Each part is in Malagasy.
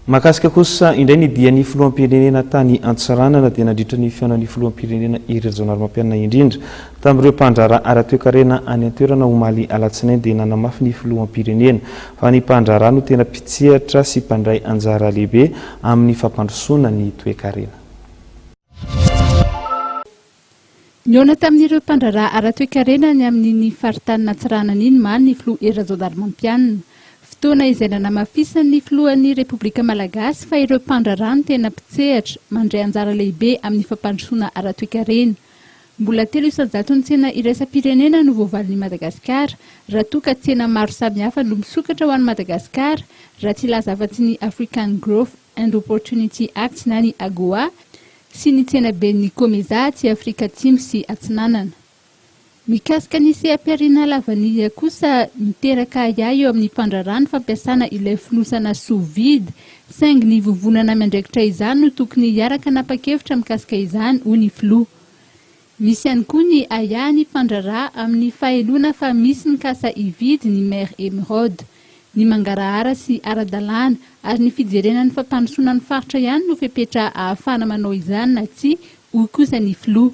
Mahakasika kosa indray ny dian'ny filoham-pirenena tany Antsiranana dia nandritra ny fihaonan'ny filoham-pirenena Hery Rajaonarimampianina indrindra tamin'ireo mpandraharaha ara-toekarena any an-toerana omaly alatsinainy dia nanamafy ny filoham-pirenena fa ny mpandraharaha no tena mpitsehatra sy mpandray anjara lehibe amin'ny fampandrosoana ny toekarena. Nihaona tamin'ireo mpandraharaha ara-toekarena any amin'iny faritany Natsiranana iny maly ny filoha Hery Rajaonarimampianina. Fotoana izay nanamafisan'ny filohan'ny Repoblika Malagasy fa ireo mpandraharaha no tena mpitsehatra, mandray anjara lehibe amin'ny fampandrosoana ara-toekarena. Mbola telo isan-jaton'ny tsena iraisam-pirenena no voavalin'i Madagasikara raha toa ka tsena maro samihafa no misokatra ho an'i Madagasikara, raha tsy hilaza afa-tsy ny African Growth and Opportunity Act na ny AGOA, sy ny tsenaben'ny Comesa aty Afrika Atsimo sy Atsinanana. Mikasika ny seha-pihariana lavanila kosa, miteraka ahiahy eo amin'ny mpandraharaha ny fampiasana ilay fonosana sous vide, saingy ny vovonana miandraikitra izany no tokony hiaraka hanapa-kevitra mikasika izany, hoy ny filoha. Misy ihany koa ny ahiahy nifandraraha amin'ny faheloana fa misy mikasa hividy ny Mère Emeraude. Ny mangarahara sy ara-dalàna ary ny fijerena ny fampandrosoana ny faritra ihany no fepetra ahafahana manao izany na tsia, hoy kosa ny filoha.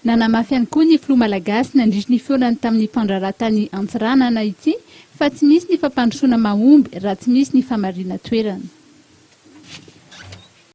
Nanamafy ihany koa ny filoha malagasy nandritry ny fihaonany tamin'ny mpandraharaha tany Antsiranana ity fa tsy misy ny fampandrosoana mahomby raha tsy misy ny famarinan-toerana.